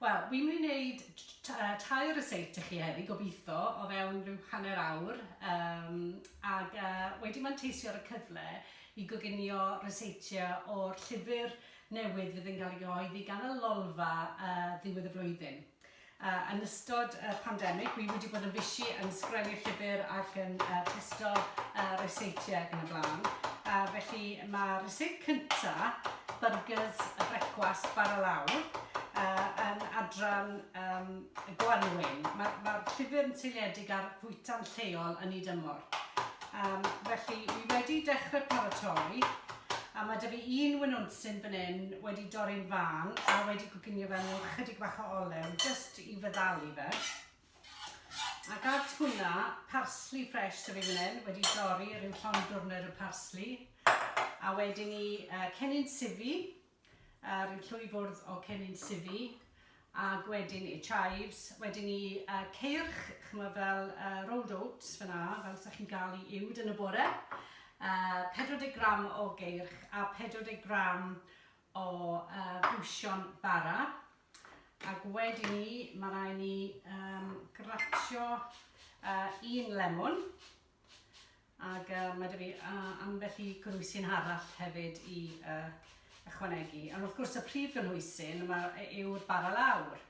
Wel, wi'n mynd i wneud tair recipe i chi heddi, gobeithio, o fewn rhyw hanner awr, um, ac uh, wedi manteisio ar y cyfle i goginio recipe o'r llyfr newydd fydd yn cael ei gyhoeddi gan y Lolfa uh, ddiwedd y flwyddyn. Uh, yn ystod y uh, pandemig, wi wedi bod yn fysi yn sgrennu llyfr ac yn uh, testo uh, recipe ac yn y blaen. Uh, felly, Mae resit cynta Byrgys y Brecwast Bara Lawr uh, yn adran um, y gwanwyn. Mae'r ma llyfr yn seiliedig ar fwyta'n lleol yn ei dymor. Um, felly, fi wedi dechrau paratoi, a mae dy fi un wynwnsyn fan hyn wedi dorri'n fan, a wedi coginio fe mewn chydig bach o olew, jyst i feddalu fe. Ac at hwnna, parsli ffresh sydd fi fan hyn, wedi dorri, rhyw llond dwrnod o parsli. A wedyn ni uh, cennin sifi, uh, rhyw llwy fwrdd o cennin sifi. Ac wedyn ni chives, wedyn ni uh, ceirch, chymod fel uh, rolled oats fyna, fel ydych chi'n gael i uwd yn y bore. Uh, 40 gram o geirch a 40 gram o uh, fusion bara. Ac wedyn ni, mae rai ni um, gratio uh, un lemon. Ac uh, mae dy fi uh, ambell i gynhwysyn arall hefyd i uh, ychwanegu. Ond wrth gwrs y prif gynhwysyn yw'r bara lawr.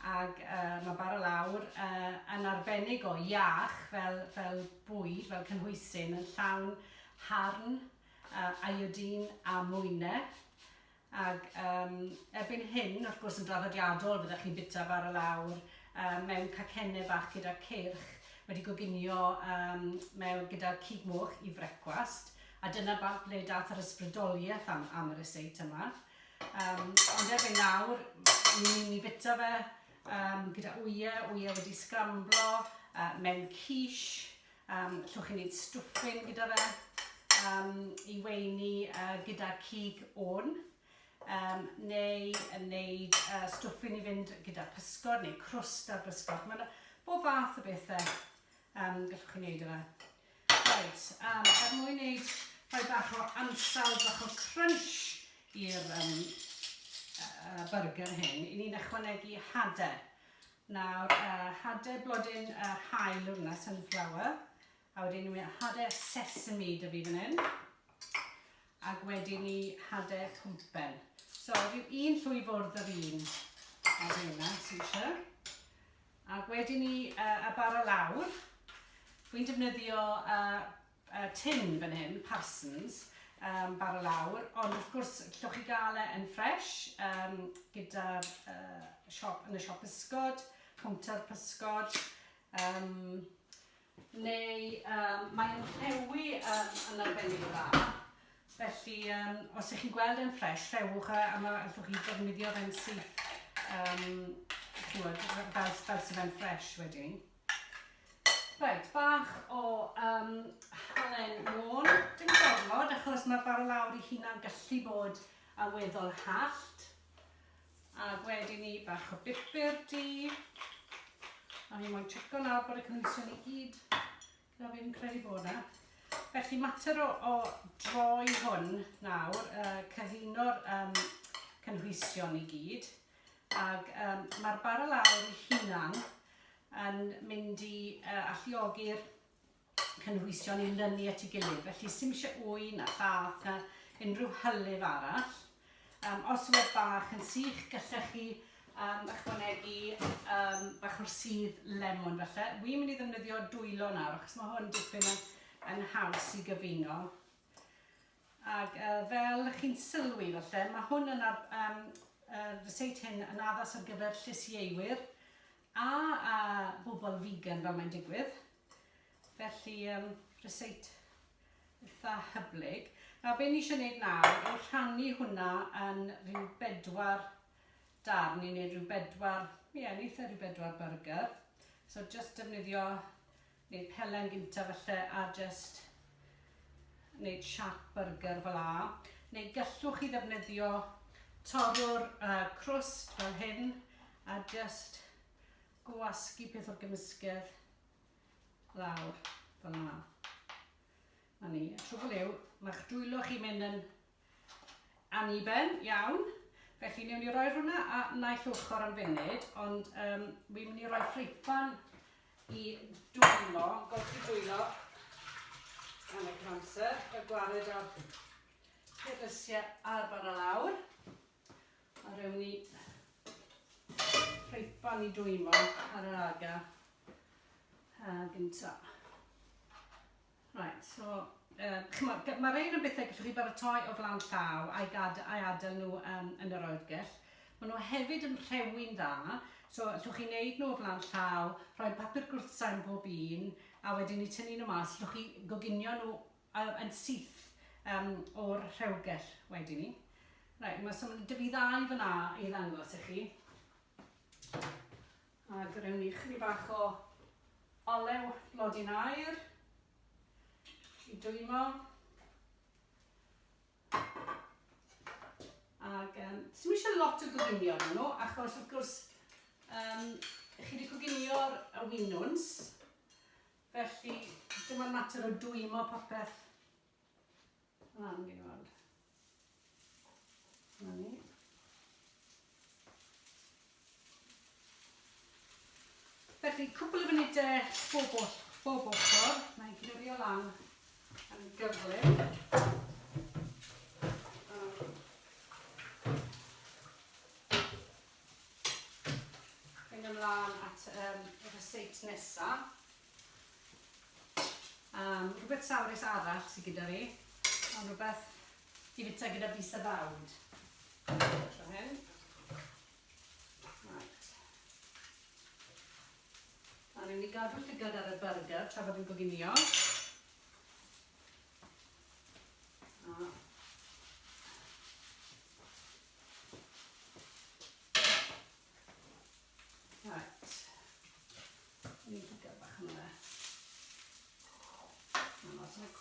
Ac uh, mae bara lawr uh, yn arbennig o iach fel, fel bwyd, fel cynhwysyn, yn llawn harn uh, iodine a mwyne. Ac um, erbyn hyn, wrth gwrs yn draddodiadol, byddwch chi'n bita bar y lawr um, mewn cacennau bach gyda cyrch wedi goginio um, mewn gyda cig moch i frecwast. A dyna bant ble dath yr ysbrydoliaeth am, am yr eseit yma. Um, ond erbyn nawr, ni'n ni bita fe um, gyda wyau, wyau wedi sgramblo, uh, mewn quiche, Um, llwch chi'n gwneud stwffyn gyda fe um, i weini uh, gyda cig o'n um, neu yn wneud uh, stwffyn i fynd gyda pysgod neu crwst ar bysgod. Mae'n bob fath o bethau um, gallwch chi wneud yna. Right, um, er mwyn wneud rhoi bach o ansawdd, bach o crunch i'r um, uh, burger hyn, i ni'n ychwanegu hadau. Nawr hade blodyn yr haul yw hwnna, sunflower. A wedyn ni hade sesame da fi fan hyn. Ac wedyn ni hade pwmpen. So rhyw un llwy fwrdd yr un ar hynna sy'n eisiau. Ac wedyn ni uh, a bara lawr. Rwy'n defnyddio uh, y tin fan hyn, Parsons, yym bara lawr, ond wrth gwrs llwch chi gael e yn fresh yym gyda'r yy siop, yn y siop pysgod, cownter pysgod, yym neu yym mae e'n rhewi yym yn arbennig o dda, felly yym os ych chi'n gweld e'n fresh rhewch e a ma' allwch chi ddefnyddio fe'n syth yym chimod fel fel se fe'n fresh wedyn. Reit, bach o um, halen môn. Dim gormod, achos mae'r fara lawr i hunan gallu bod yn weddol hallt. A wedyn ni bach o bipur di. A ni moyn checo nawr bod y cynwysion i gyd Na, fi'n credu bod 'na. Felly, mater o, o droi hwn nawr, uh, cyfuno'r um, cynhwysion i gyd, ac um, mae'r barel awyr ei hunan yn mynd i uh, alluogi'r cynhwysion i lynu at ei gilydd. Felly, sy'n eisiau wy na llath na unrhyw hylif arall. Um, os yw'r bach yn sych, gallech chi um, ychwanegu um, bach o'r sydd lemon falle. Wi'n mynd i ddefnyddio dwylo nawr, achos mae hwn dipyn yn, yn haws i gyfuno. Ac uh, fel chi'n sylwi falle, mae hwn yn ar, um, uh, ryseit hyn yn addas ar gyfer llys ieiwyr a, a bobl vegan fel mae'n digwydd. Felly, um, ryseit eitha hyblyg. Nawr, be ni eisiau gwneud nawr yw rhannu hwnna yn rhyw bedwar darn, ni'n gwneud rhyw bedwar, ie, yeah, eitha rhyw bedwar burger. So, just defnyddio, neu pelen gynta falle, a just wneud siap burger fel la. Neu gallwch chi ddefnyddio torrwr uh, crwst fel hyn, a just Gwasgu peth o'r gymysgedd lawr fel yma. Na ni. Y trwbl yw, mae'ch dwylo chi'n mynd yn aniben iawn, felly newn ni roi hwnna a naill ochr am funud, ond um, wi'n mynd i roi ffripan i dwylo, golchi dwylo yn y canser, y gwared o'r pethau a'r bara lawr. A rewn ni ffreipan i dwymo ar yr aga ha gynta. Right, so, uh, mae rhain yn bethau gallwch chi baratoi o flan llaw a'i gad a'i adael nhw um, yn yr oergell. Maen nhw hefyd yn rhewi'n dda, so allwch chi wneud nhw o flan llaw, rhoi papur gwrthsain bob un, a wedyn i tynnu nhw mas, allwch chi goginio nhw Yym yn syth yym o'r rhewgell wedyn 'ny. Reit, ma' so ma' 'da fi ddau fan 'na i ddangos i chi. Ag rewn ni chydig bach o olew blodyn aur i dwymo. Ag yym sdim isie lot o goginio arnyn nhw achos wrth gwrs yym chi 'di coginio'r y winwns Felly, dim ond mater o dwymo popeth lan gen i weld. Na ni. Felly, cwpl o funudau bob oll, bob ochr, mae'n glurio lan yn gyflym. Mynd ymlaen at um, y receipt nesaf. Um, rhywbeth sawrus arall sydd gyda fi, ond rhywbeth i fita gyda bus a fawd. Tro hyn. Right. A ni'n mynd i gadw llygad ar y burger tra bod yn goginio.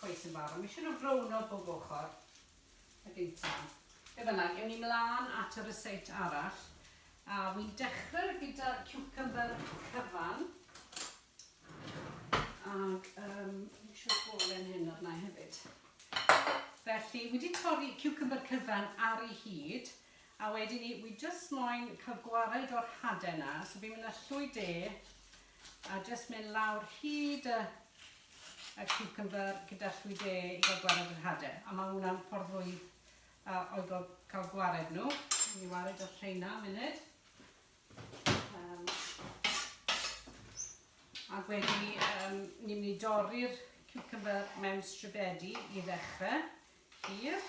cweit yn barod. Mae eisiau nhw brown o bob ochr. A dim tan. Be fyna, ewn ni mlaen at y ryseit arall. A wy'n dechrau gyda'r cucumber cyfan. Ac um, fi eisiau bolen hyn arna i hefyd. Felly, wedi torri cucumber cyfan ar ei hyd, a wedyn ni, wi just moyn cael gwared o'r hade yna, so fi'n mynd â llwy de, a just mynd lawr hyd y, y cucumber gyda llwy de i gael gwared o'r hade. A mae hwnna'n ffordd fwy uh, oedol cael gwared nhw. Ni wared o'r rheina munud. Um, ac wedyn ni, um, ni'n mynd i dorri'r cucumber mewn stribedi i ddechrau, hir,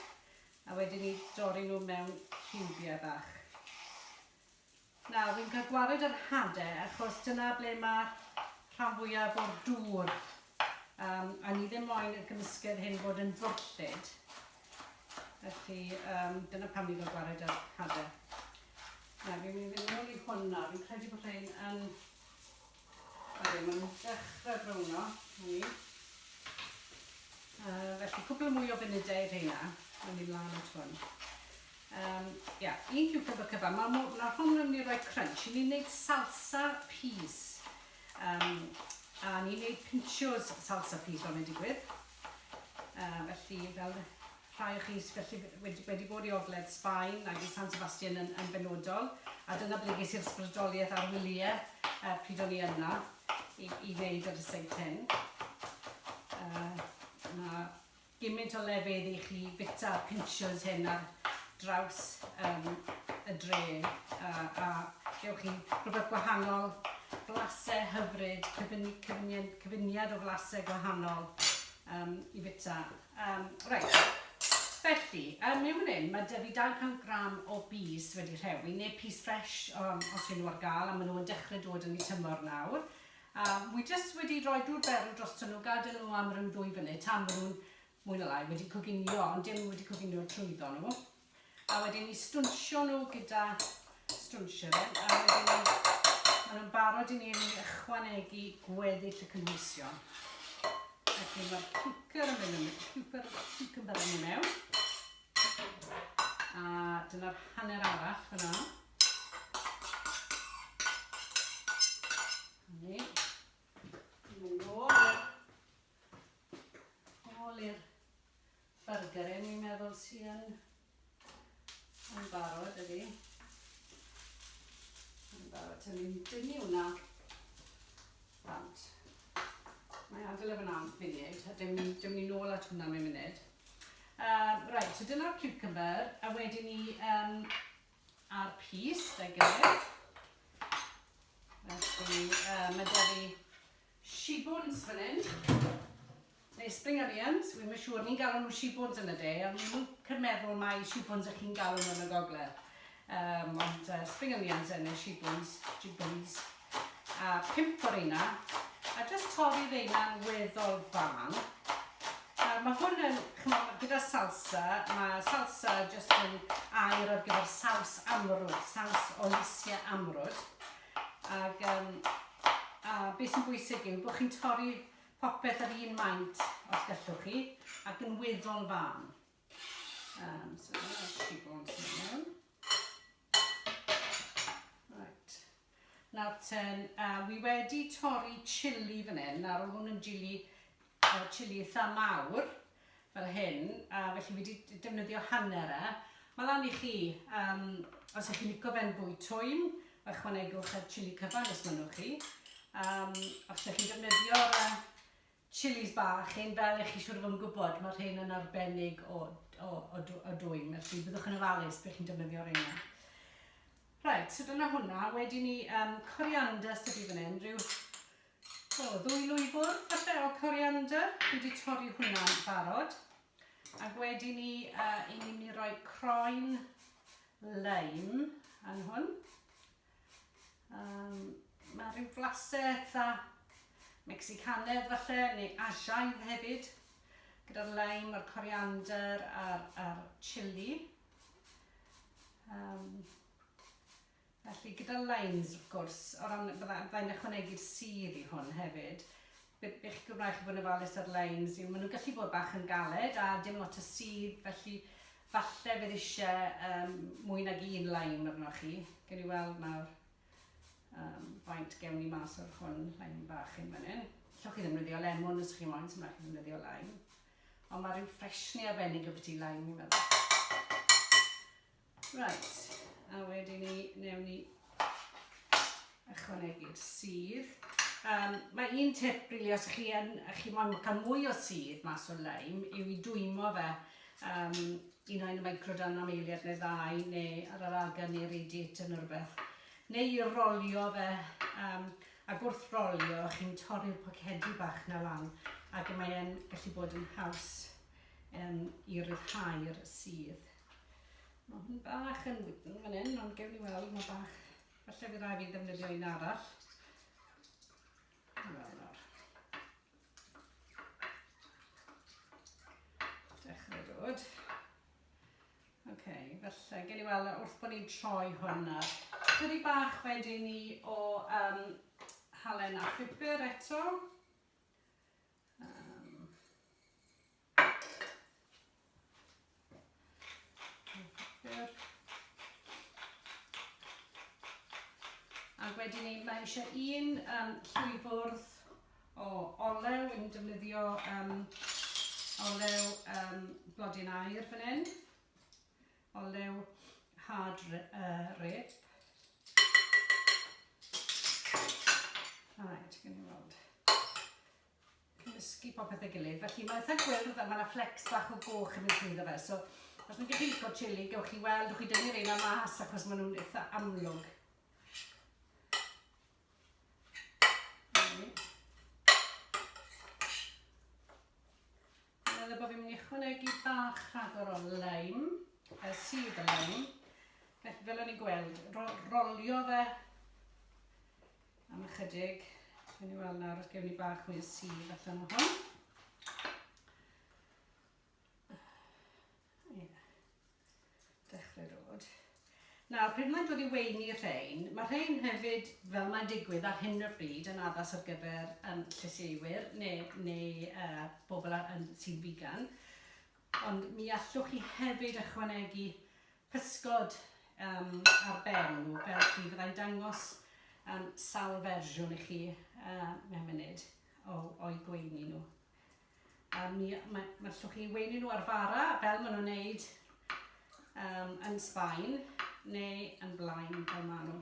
a wedyn ni dorri nhw mewn cubia bach. Nawr, fi'n cael gwared yr hade, achos dyna ble mae rhan fwyaf o'r dŵr. Um, a ni ddim moyn y gymysgedd hyn bod yn ddwllyd. Felly, um, dyna pam ni fel gwared ar hadau. Na, fi'n mynd i ôl i hwn nawr. Fi'n credu bod rhain yn... Oedden, maen nhw'n dechrau browno, ni. Uh, felly, cwpl o mwy o funudau rheina, yn mynd lan at hwn. Um, yeah, un cucumber cyfan. Mae ma, ma hwn yn mynd i roi crunch. Ni'n gwneud salsa peas. Um, a ni'n gwneud pinchos salsa peas, fel mae'n digwydd. Yy felly fel rhai o chi sydd felly wedi wedi bod i ogledd Sbaen ag i San Sebastian yn yn benodol a dyna ble ges i'r sbrydoliaeth a'r wylie yy pryd o'n i yna i i wneud yr rhyseit hyn. Yy ma' gymint o lefydd i chi fita pinchers hyn ar draws um, y dre uh, a gewch chi rhywbeth gwahanol, blasau hyfryd, cyfuniad, cyfuniad o flasau gwahanol um, i fita. Um, right. Felly, um, mewn fan hyn, mae dyfu 200 gram o bys wedi rhewi, neu pys ffres um, os yw'n nhw ar gael, a maen nhw'n dechrau dod yn ei tymor nawr. Um, wi jyst wedi rhoi dŵr berw dros nhw, gadael nhw am rhyw ddwy funud tan maen nhw'n mwy na lai wedi coginio, ond dim wedi coginio trwyddo nhw. A wedyn ni stwnsio nhw gyda stwnsio fe, a wedyn ni, maen nhw'n barod i ni ychwanegu gweddill y cynhwysion. Felly mae'r cwcer yn mynd yn cwcer, cucumber yn mynd mewn. A dyna'r hanner arall fyna. Ni. Ni. Nôl i'r byrgyr yn i'n meddwl sy yn yn barod ydi. Yn barod, ti'n ni'n dynnu hwnna bant. Mae agl efo'n am funud, a dim, dim ni nôl at hwnna mewn munud. Uh, right, so dyna'r cucumber, a wedyn ni um, a'r pys, da gilydd. Felly, uh, mae da fi shibwns fan hyn. Neu spring onions, wy'n mynd siŵr, ni'n galw nhw shibwns yn y de, ond ni'n mwyn meddwl mae shibwns ych chi'n galw nhw yn y gogledd. Um, ond uh, spring onions yn y shibwns, shibwns. a pump o reina a jyst torri reina'n weddol fân. Nawr mae hwn yn, chymod, gyda salsa, mae salsa jyst yn air ar gyfer saws amrwd, saws o lysiau amrwd. Ac, um, a beth sy'n bwysig yw bod chi'n torri popeth yr un maint os gallwch chi ac yn weddol fân. Um, so that's two bones in there. Right. Nawr ten, uh, wi wedi torri chili fan hyn. Nawr oedd hwn yn chili, uh, chili eitha mawr fel hyn. A uh, felly wedi defnyddio hanner e. Mae lan i chi, um, os ych chi'n licio fe'n fwy twym, ychwanegwch y chili cyfan os mynnwch chi. Um, os ych chi'n defnyddio'r uh, Chilis bach, hyn fel ych chi siŵr o fod yn gwybod, mae'r rhain yn arbennig o, o, o, o dwym, felly byddwch yn ofalus beth chi'n defnyddio reina. Right, so dyna hwnna. Wedyn ni um, coriander sydd wedi fan hyn, rhyw o, ddwy lwyfwr, falle o coriander. Dwi wedi torri hwnna'n barod. Ac wedyn ni, uh, i ni mynd i roi croen leim yn hwn. Um, mae rhyw flasau eitha Mexicanedd falle, neu Asiaidd hefyd, gyda'r lime a'r coriander a'r, ar chili. Um, felly gyda limes, wrth gwrs, o ran, byddai'n ychwanegu'r sydd i hwn hefyd, Bydd eich Gymraeg chi fod yn ofalus ar lein, as in, maen nhw'n gallu bod bach yn galed a dim lot o sudd, felly falle bydd eisiau um, mwy nag un laim arnoch chi. Gen i weld nawr um, faint gewn ni mas o'r hwn, laim bach yn fan hyn. Llwch chi ddefnyddio lemon os chi'n moyn, sy'n rhaid chi ddefnyddio laim. Ond mae rhyw ffresni arbennig o beth i laim, i'n meddwl. Right, a wedyn ni, newn ni ychwanegu'r sydd. Um, mae un tip rili, os chi, yn, chi moyn cael mwy o sydd mas o'r leim, yw i dwymo fe um, un o'n microdan am eiliad neu ddau, neu ar yr agen neu radiator yn rhywbeth. Neu i rolio fe, um, ac wrth rolio, chi'n torri'r pocedi bach na lan, ac mae'n gallu bod yn haws um, i ryddhau'r sydd. Mae hwn bach yn wydn fan hyn, ond gewn ni weld, mae bach... Felly fi rai fi ddefnyddio un arall. Wel, nawr. Dechrau dod. Oce, okay, felly, gen i weld wrth bod ni'n troi hwn ar. Dydy bach wedi ni o um, halen a phupur eto. Um, Ac wedyn ni, mae eisiau un um, llwyfwrdd o olew, yn defnyddio um, olew um, blodyn air fan hyn, olew hard uh, rip. Right, gwn i weld. cymysgu popeth ei gilydd. Felly mae'n eitha gwyrdd a mae yna flecs bach o goch yn mynd trwyddo fe. So os mae'n gallu lico chili, gewch chi weld, wch chi dynnu reina mas achos maen nhw'n eitha amlwg. Meddwl bod fi'n mynd i chwanegu bach rhagor o leim, y sydd y leim. Felly fel o'n i'n gweld, rolio fe Am ychydig, yn i weld nawr os gewn ni bach mwy o sydd allan o hwn. Nawr, pryd mae'n dod i weini rhain, mae rhain hefyd, fel mae'n digwydd ar hyn o bryd, yn addas ar gyfer um, llysieuwyr neu, neu uh, bobl ar, yn, sy'n figan. Ond mi allwch chi hefyd ychwanegu pysgod um, ar ben nhw, fel chi. Fyddai'n dangos um, sawl fersiwn i chi uh, mewn munud o'i gweini nhw. A mi, mae, mae llwch chi'n weini nhw ar fara, fel maen nhw'n neud um, yn Sbaen, neu yn blaen fel maen nhw.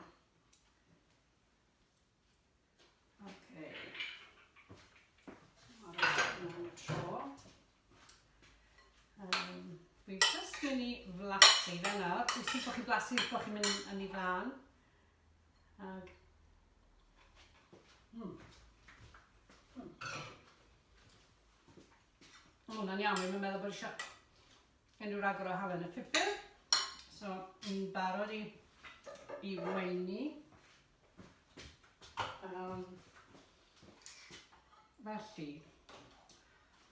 blasu bod chi'n mynd yn ei flan. Ag... Mm. Mm. Mae hwnna'n iawn, mae'n meddwl bod eisiau unrhyw ragor o halen y pupur. So, ni'n barod i, i weini. Um, felly,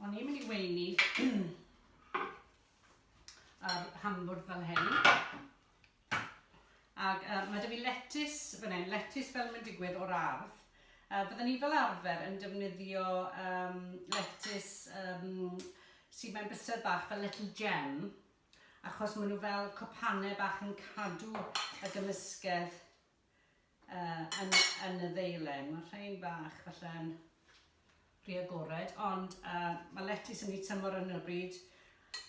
o'n i'n mynd i weini yr hamburg fel hyn. Ac uh, mae dy fi letus fan hyn, letus fel mae'n digwydd o'r ardd. Uh, byddwn ni fel arfer yn defnyddio um, letus um, sydd mewn bysedd bach fel little gem, achos maen nhw fel cwpanau bach yn cadw y gymysgedd uh, yn, yn y ddeilen. Mae rhain bach falle'n rhy agored, ond uh, mae letys yn ei tymor yn y bryd.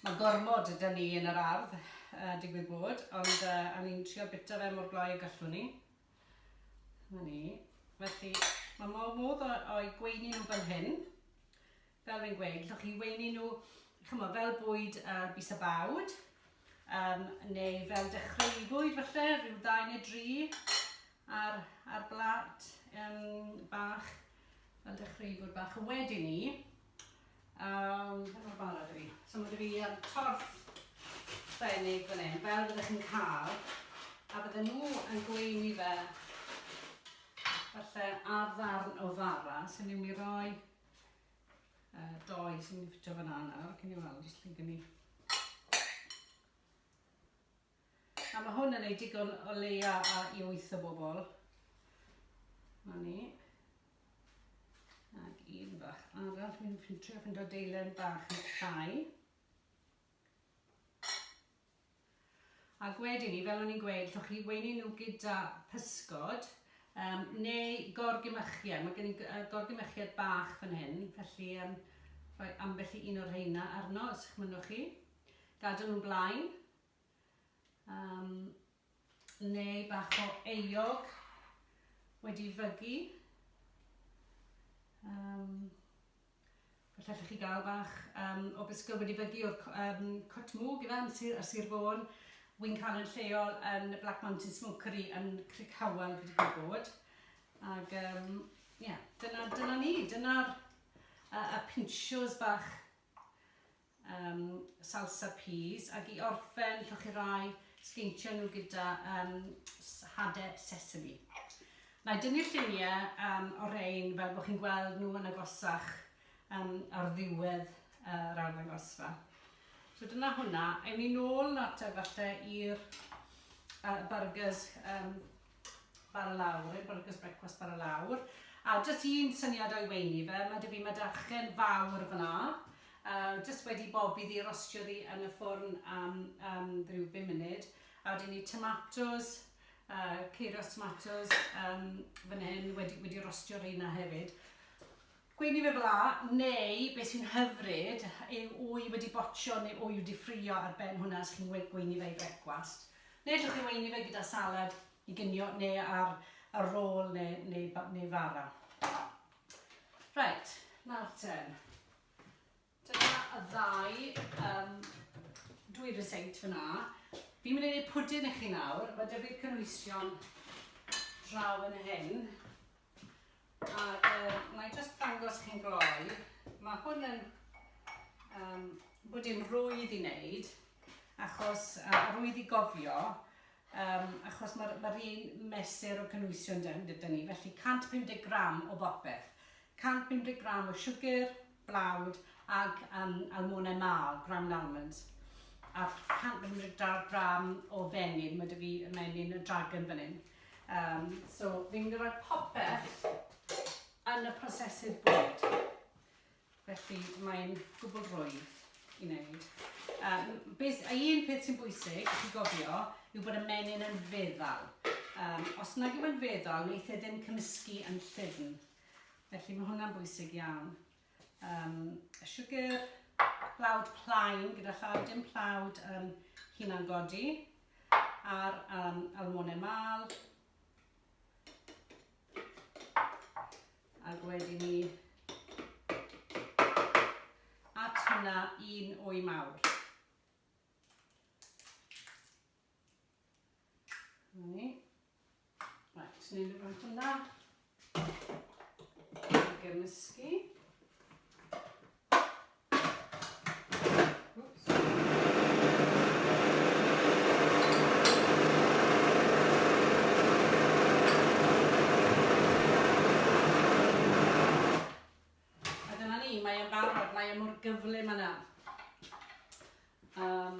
Mae gormod ydy ni yn yr ardd, uh, digwydd bod, ond uh, a ni'n trio bita fe mor gloi y gallwn ni. Mae ni. Felly, mae modd o'i gweini nhw fan hyn. fel rwy'n gweud, allwch chi weini nhw chymod, fel bwyd ar bys a bawd, um, neu fel dechrau i fwyd falle, rhyw ddau neu dri ar, ar blat um, bach, fel dechrau i fwyd bach. A wedyn ni, um, fe mor barod i fi. So mae fi um, torf benig fan hyn, fel byddwch chi'n cael, a bydden nhw yn gweini fe falle ar ddarn o fara, sy'n mynd i roi Uh, doi sy'n mynd i ffitio fyna nawr, cyn i weld os chi'n gynnu. A mae hwn yn ei digon o leia a i wyth o bobl. Na ni. Ac un bach arall, fi'n ffintio fynd o deilen bach yn llai. Ac wedyn 'ny, fel o'n i'n gweud, allwch chi weini nhw gyda pysgod yym neu gorgymychiad. Mae gen i g- yy gorgymychiad bach fan hyn, felly yym rhoi ambell i un o'r rheina arno os y'ch mynnwch chi. Gadw nhw'n blaen. Yym. neu bach o eog wedi fygu. Um, Felly allwch chi gael bach um, o bisgwyl wedi fygu o'r um, cwtmwg ife am sir, ar Sir Fôn. Wy'n cael yn lleol yn y Black Mountain Smokery yn Cric Howell wedi cael bod. Ac um, yeah, dyna, dyna ni, dyna'r uh, y pinsios bach um, salsa peas ac i orffen lloch chi rai sgeintio nhw gyda um, hade sesame. Na i dynnu'r lluniau um, o rein fel bod chi'n gweld nhw yn agosach um, ar ddiwedd uh, yr arddangosfa. So dyna hwnna. Ewn ni nôl nawr te falle i'r uh, burgers um, bar y lawr, right? Burgers Breakfast bar y lawr. A jyst un syniad o'i weini fe, mae dy fi madarchen fawr fyna. Uh, jyst wedi bob iddi rostio ddi yn y ffwrn am um, rhyw 5 munud. A wedyn ni tomatoes, uh, ceiros tomatoes um, fan hyn, wedi, wedi rostio rheina hefyd. Gweud ni fe fel 'a, neu be sy'n hyfryd yw wy wedi botsio neu wy wedi ffrio ar ben hwnna os chi'n gweini fe i frecwast. Neu allwch chi weini fe gyda salad i ginio neu ar, ar rôl neu, neu, neu fara. Reit, nawr ten. Dyna y ddau yym dwy reseit fyna. Fi'n mynd i wneud pwdin i chi nawr. Mae 'da fi'r cynwysion draw yn hyn. A uh, na i just dangos chi'n gloi. Mae hwn yn um, bwdin rwydd i wneud, achos uh, rwydd i gofio, um, achos mae'r ma un mesur o cynwysion dyn, dyn ni, felly 150 gram o bopeth. 150 gram o siwgr, blawd ag um, almonau mâl, ground almonds. A 150 gram, gram o fenyn, mae dy fi y menyn y dragon fan hyn. Um, so fi'n mynd i roi popeth yn y prosesydd bwyd. Felly mae'n gwbl rwydd i wneud. Um, beth, a un peth sy'n bwysig, i gofio, yw bod y menyn yn feddal. Um, os nag yw'n feddal, wneith e ddim cymysgu yn llyfn. Felly mae hwnna'n bwysig iawn. Um, y siwgr, blawd plaen gyda llaw, dim plawd um, hunan godi, a'r um, almonau mal. Ac wedi ni at hwnna un o'i mawr. Ni. Right, ni'n mynd rhwng hwnna. Gymysgu. mae e'n barod, mae e mor gyflym yna. Um,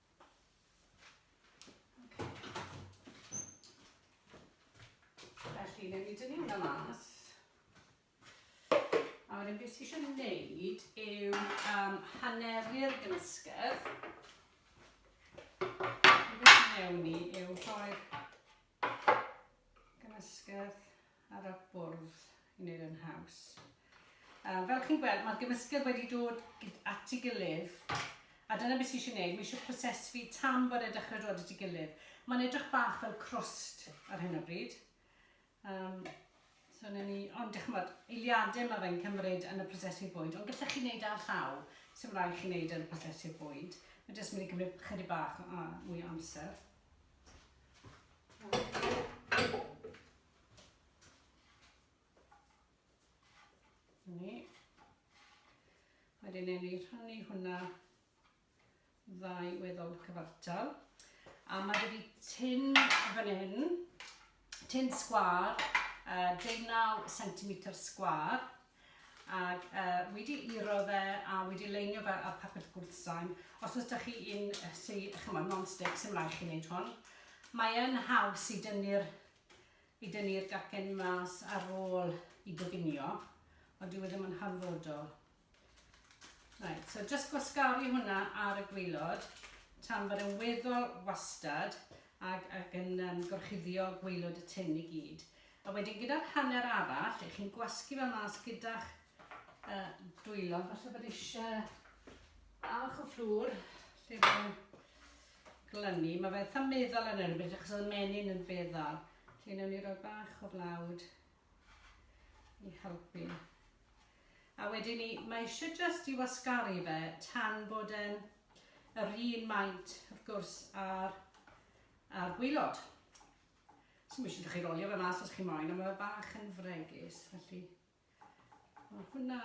Felly, newn ni dynnu hwnna mas. A wedyn beth sy'n eisiau gwneud yw um, haneru'r gymysgedd. Beth sy'n newn ni yw rhoi'r Gymysgedd ar y bwrdd i wneud yn haws. Um, fel chi'n gweld, mae'r gymysgedd wedi dod at ei gilydd a dyna beth sy'n eisiau gwneud, mae eisiau proses fi tam bod e'n dechrau dod at ei gilydd. Mae'n edrych bach fel crost ar hyn o bryd. Um, So na ni, ond ych chymod, eiliadau mae fe'n cymryd yn y prosesu bwyd, ond gallech chi wneud ar llaw, sy'n rhaid chi wneud yn y prosesu bwyd. Mae jyst mynd i gymryd chydig bach o, mwy o amser. Ni. Wedyn ni rhannu hwnna ddau weddol cyfartal. A mae wedi tyn fan hyn tun sgwar, uh, deunaw centimetr sgwar, ac uh, wedi iro fe a wedi leinio fe ar papur gwrthsain. Os oes da chi un sy'n, chymod, non-stick, sy'n rhaid chi wneud hwn. Mae yn haws i dynnu'r i dynnu'r gacen mas ar ôl i goginio, ond dyw e ddim yn hanfodol. Right, so just gwasgaru hwnna ar y gweilod tan bod yn weddol wastad ac, ac yn um, gorchuddio gweilod y tin i gyd. A wedyn gyda'r hanner arall, lle chi'n gwasgu fe mas gyda'ch uh, dwylo, falle bod eisiau bach o fflwr lle mae'n glynu. Mae fe eitha meddwl yn erbyn, achos oedd y menyn yn feddwl. Felly newn ni roi bach o flawd i helpu. A wedyn ni, mae eisiau jyst i wasgaru fe tan bod e'n yr un maint, wrth gwrs, a'r, ar gwylod. So mae eisiau ddech chi rolio fe mas os chi moyn, ond mae fe bach yn fregus, felly... Mae hwnna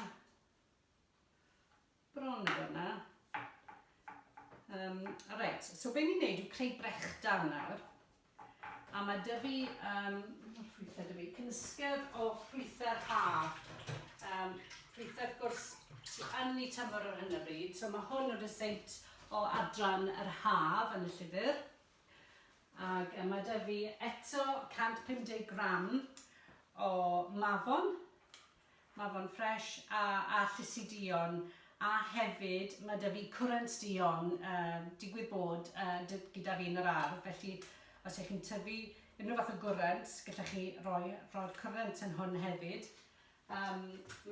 Bron yn dod 'na. Um, right, so be ni'n neud yw creu brechdan nawr. A mae dy fi, um, ffrwythau dy fi, cynysgedd o ffrwythau haf. Um, ffrwythau, wrth gwrs, ti yn ei tymor ar hyn o bryd. So mae hwn yn rhyseit o adran yr haf yn y llyfr. Ac mae dy fi eto 150 gram o mafon, Mae fo'n fresh a a llysu duon a hefyd ma' 'da fi cwrant duon yy digwydd bod yy dy- gyda fi yn yr ardd felly os y'ch chi'n tyfu unrhyw fath o gwrant gallech chi roi roi'r cwrant yn hwn hefyd. Yym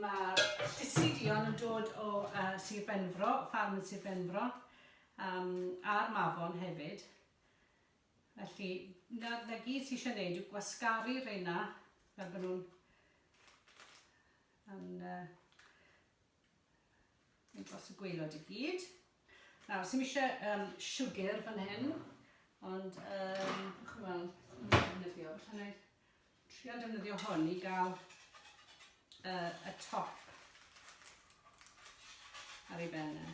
ma'r llysu duon yn dod o yy Sir Benfro, ffarm yn Sir Benfro yym a'r mafon hefyd. Felly, 'na, 'na gyd ti eisiau neud yw gwasgaru reina fel bod nhw'n yn uh, yn dros y gweilod i gyd. Nawr, sy'n eisiau um, siwgr fan hyn, ond um, chi'n gweld, yn defnyddio, felly wneud Trio defnyddio hwn i gael uh, y top ar ei ben e.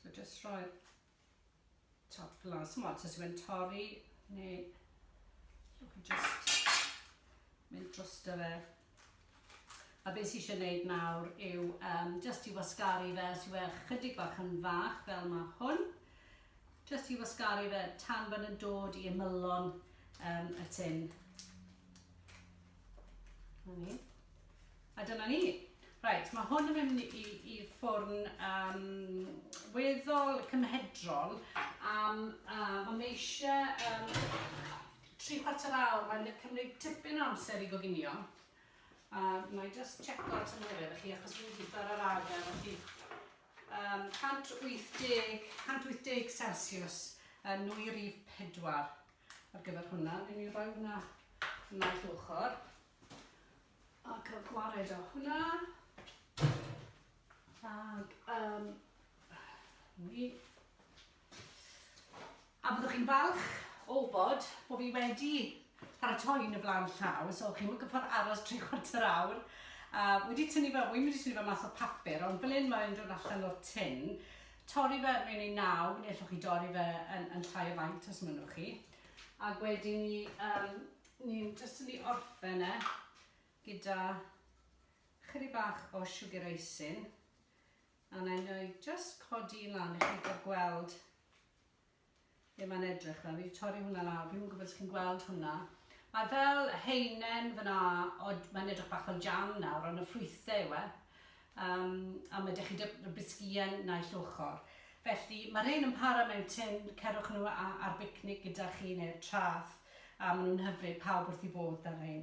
So just rhoi top fel yna. Symod, so sy'n torri neu just mynd dros dy fe. A be sy'n eisiau gwneud nawr yw um, just i wasgaru fe, os yw e chydig bach yn fach fel mae hwn, just i wasgaru fe tan bod yn dod i ymylon um, y tin. A dyna ni. Right, mae hwn yn mynd i, i ffwrn um, weddol cymhedrol am, um, mae eisiau um, Tri chwarter awr, mae'n mynd i cymryd tipyn o amser i goginio. A na i just checko'r tymheredd chi, achos fi'n gwybod ar arfer, felly um, 180, 180 Celsius yn nwy rif 4 ar gyfer hwnna. Fi'n ei roi hwnna yn naill ochr. A cael gwared o hwnna. Ac, um, ni A byddwch chi'n falch o wybod bod fi wedi paratoi yn y flaen llaw, so chi'n gorfod aros tri chwarter awr. A wedi tynnu fe, wy'n wedi tynnu fe mas o papur, ond fel un mae'n dod allan o'r tin, torri fe mewn i naw, neu allwch chi dorri fe yn, yn llai o faint os mynnwch chi. Ac wedi ni, um, ni'n jyst yn ei orffen e gyda chyri bach o sugar icing. A wna i wna i jyst codi un lan i chi gael gweld be mae'n edrych fel. Fi'n torri hwnna lawr, fi'n gwybod os chi'n gweld hwnna. Mae fel heinen fyna, mae'n edrych bach fel jam nawr, ond y ffrwythau yw e. Um, a mae ydych chi bisgien naill ochr. Felly, mae'r rhain yn para mewn tin, cerwch nhw ar bicnic gyda chi neu'r trath, a maen nhw'n hyfryd pawb wrth i fod dan rhain.